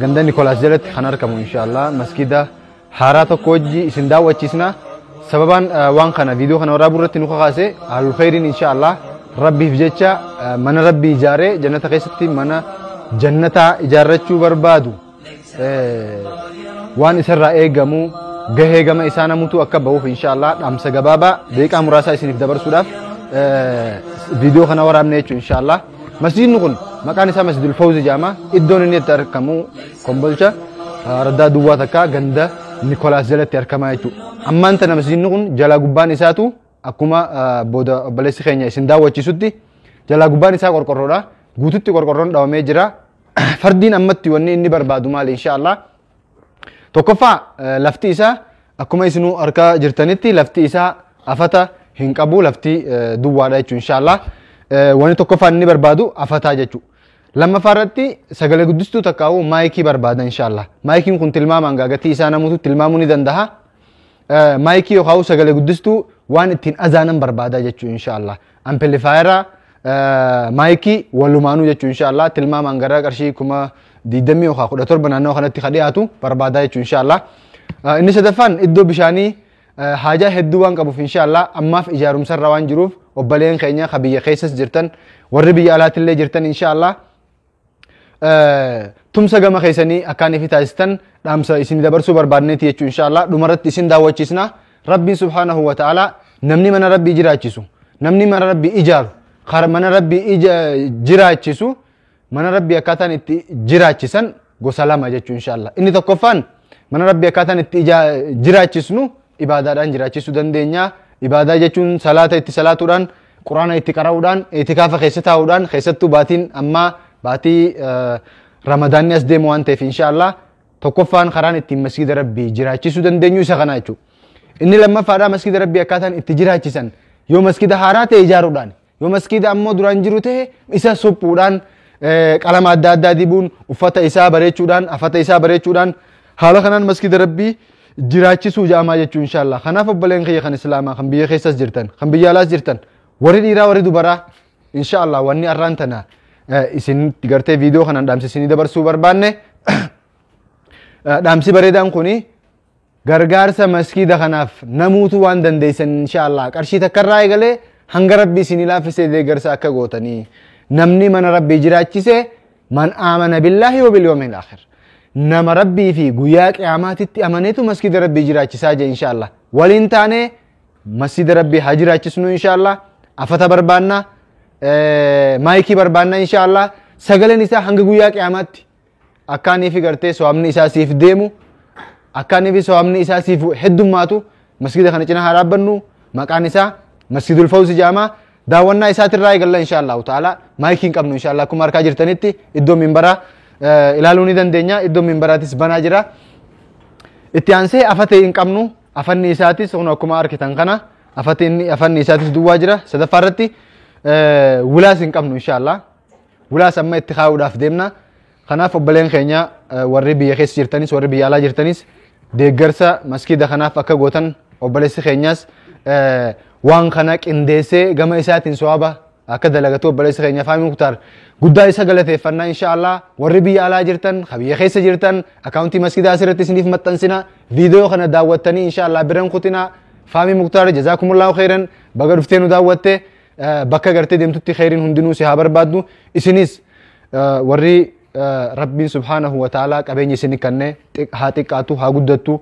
Ganda Nikolaas jalatti kan argamu inshaallah maskiida haaraa tokko wajji isin daawwachiisna. Sababaan waan kana viidiyoo kana waraabuu irratti nu kakaase haalul khayriin inshaallah rabbiif jecha mana rabbii ijaaree jannata keessatti mana jannataa ijaarrachuu barbaadu waan isarraa eegamu gahee gama isaa namutu akka bahuuf inshaallah dhaamsa gabaabaa deeqaa muraasaa isiniif dabarsuudhaaf viidiyoo kana waraabne jechuun inshaallah. Masjiidni kun maqaan isaa Masjidul Fawzi jedhama. Iddoon inni itti argamu Kombolcha raddaa duwwaa takkaa ganda Nikolaas jalatti argamaa jechuudha. Ammaan tana masjiidni kun jalaa gubbaan isaatu akkuma booda obboleessi keenya isin daawwachiisutti jalaa gubbaan isaa qorqorroodha. Guututti qorqorroon dhawamee jira. Fardiin ammatti wanni inni barbaadu maali inshaallah. Tokkoffaa eh, lafti isaa akkuma isinuu harkaa jirtanitti lafti isaa afata hin qabu lafti eh, duwwaadha jechuudha inshaallah. Eh, Wanni tokkoffaan inni barbaadu afataa jechuudha. Lammaffaa irratti sagalee guddistuu takkaa'uu maayikii barbaada inshaallah. Maayikiin kun tilmaamaan gaagatii isaa namuutu tilmaamuu ni danda'a. Eh, Maayikii yookaan sagalee guddistuu waan ittiin azaanan barbaada jechuudha inshaallah. Ampilifaayera maayikii walumaanuu jechuun inshaallah tilmaamaan gara qarshii kuma digdamii yookaan kudha torba naannoo kanatti kan dhiyaatu barbaadaa jechuun inshaallah. Inni sadaffaan iddoo bishaanii haajaa hedduu waan qabuuf inshaallah ammaaf ijaarumsarra waan jiruuf obboleen keenya ka biyya keessas jirtan warri biyya alaatillee jirtan inshaallah tumsa gama keessanii akkaan ifi taasistan dhaamsa isin dabarsuu barbaadneeti jechuun inshaallah dhumarratti isin daawwachiisna rabbiin subhaanahu wa ta'aalaa namni mana rabbii jiraachisu namni mana rabbii ijaaru kar mana rabbii ija jiraachisu mana rabbii akkaataan itti jiraachisan gosa lama jechuun inshaallah inni tokkoffaan mana rabbii akkaataan itti ija jiraachisnu ibaadaadhaan jiraachisuu dandeenya ibaadaa jechuun salaata itti salaatuudhaan Quraana itti qara'uudhaan, itikaafa keessa taa'uudhaan, keessattuu baatiin ammaa baatii ramadaanni as deemu waan ta'eef inshaallah tokkoffaan karaan ittiin masgiida rabbii jiraachisuu dandeenyu isa kana jechuudha. Inni lammaffaadhaa masgiida rabbii akkaataan itti jiraachisan yoo masgiida haaraa ta'e ijaaruudhaan yoo masgiida ammoo duraan jiru ta'e isa suphuudhaan qalama adda addaa dibuun uffata isaa bareechuudhaan afata isaa bareechuudhaan haala kanaan masgiida rabbii jiraachisuu ja'amaa jechuu inshaallaa kanaaf obboleen kiyya kan islaamaa kan biyya keessas jirtan kan biyya alaas jirtan warri dhiiraa warri dubaraa inshaallaa wanni arraan tana isin gartee viidiyoo kanaan dhaamsi isinii dabarsuu barbaanne dhaamsi bareedaan kuni gargaarsa maskiida kanaaf namuutu waan dandeessan inshaallaa qarshii takkarraa eegalee hanga rabbi isinii laaffisee deeggarsa akka gootanii namni mana rabbii jiraachise man aamana billaahi wa bilyoomiil akhir nama rabbii fi guyyaa qiyaamaatitti amaneetu masjida rabbii jiraachisaa jee insha allah waliin taanee masjida rabbii haa jiraachisnu insha allah afata barbaanna maayikii barbaanna insha allah sagaleen isaa hanga guyyaa qiyaamaatti akkaanii fi gartee so'amni isaa siif deemu akkaanii fi so'amni isaa siif heddummaatu masjida kana cina haa dhaabbannu maqaan isaa masjidul fawzi jedhama daawwannaa isaatirraa eegalla insha allahu ta'ala maayikii hin qabnu insha allah akkuma harkaa jirtanitti iddoo minbaraa eh, ilaaluu ni dandeenya iddoo minbaraatis banaa jira itti aansee afatee hin qabnu afanni isaatis kun akkuma arkitan kana afati inni afanni isaatis duwwaa jira sadaffaa irratti eh, wulaas hin qabnu insha allah wulaas amma itti kaa'uudhaaf deemna Kanaaf obboleen keenya warri biyya keessa jirtanis warri biyya alaa jirtanis deeggarsa maskiida kanaaf akka gootan obboleessi keenyas waan kana qindeessee gama isaatiin so'aba akka dalagatu obboleessi keenya Faamii Muktaar guddaa isa galateeffannaa inshaallah warri biyya alaa jirtan ka biyya keessa jirtan akkaawuntii maskiidaa asirratti isiniif maxxansina viidiyoo kana daawwattanii inshaallah biran kutinaa Faamii Muktaar jazaakumullahu khayran baga dhuftee nu daawwatte bakka gartee deemtutti kheyriin hundinuu si haa barbaaddu isinis warri rabbiin subhaanahu wa ta'aalaa qabeenya isin kanne haa xiqqaatu haa guddattu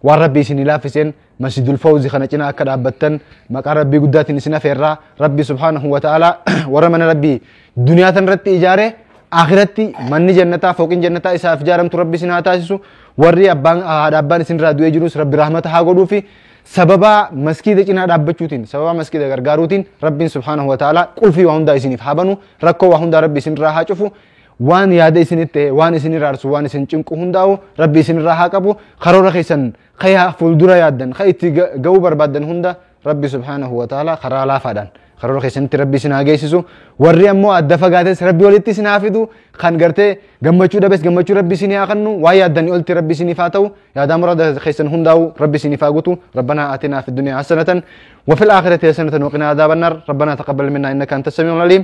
waan rabbi isin laaffiseen masjidul fawzi kana cinaa akka dhaabbattan maqaa rabbii guddaatiin isin afeerraa rabbi subhaanahu wa ta'aalaa warra mana rabbii duniyaa tan irratti ijaare akhiratti manni jannataa fooqin jannataa isaaf ijaaramtu rabbi isin haa taasisu warri abbaan haadha abbaan isin irraa du'ee jirus rabbi rahmata haa godhuufi sababaa maskiida cinaa dhaabbachuutiin sababaa maskiida gargaaruutiin rabbiin subhaanahu wa ta'ala qulfii waa hundaa isiniif haa banu rakkoo waa hundaa rabbi isinirraa haa cufu waan yaada isinitti ta'e waan isin iraarsu waan isin cinqu hundaa'u rabbi isinirraa haa qabu karoora keessan kayaa fuuldura yaaddan ka itti ga'uu barbaaddan hunda rabbi subhaanahu wa ta'ala karaa laafaadhaan Karoora keessanitti rabbi isin haa geessisu. Warri ammoo adda fagaates rabbi walitti isin haa fidu. Kan gartee gammachuu dhabes gammachuu rabbi isin haa kennu. Waa yaaddanii olti rabbi isiniif haa ta'u. Yaadaa muraada keessan hundaa'u rabbi isiniif haa guutu. Rabbanaa aatinaa fi duniyaa hasanatan. Wafil aakhirati hasanatan waqinaa adaabannar. Rabbanaa taqabbal minnaa innaka anta samiul aliim.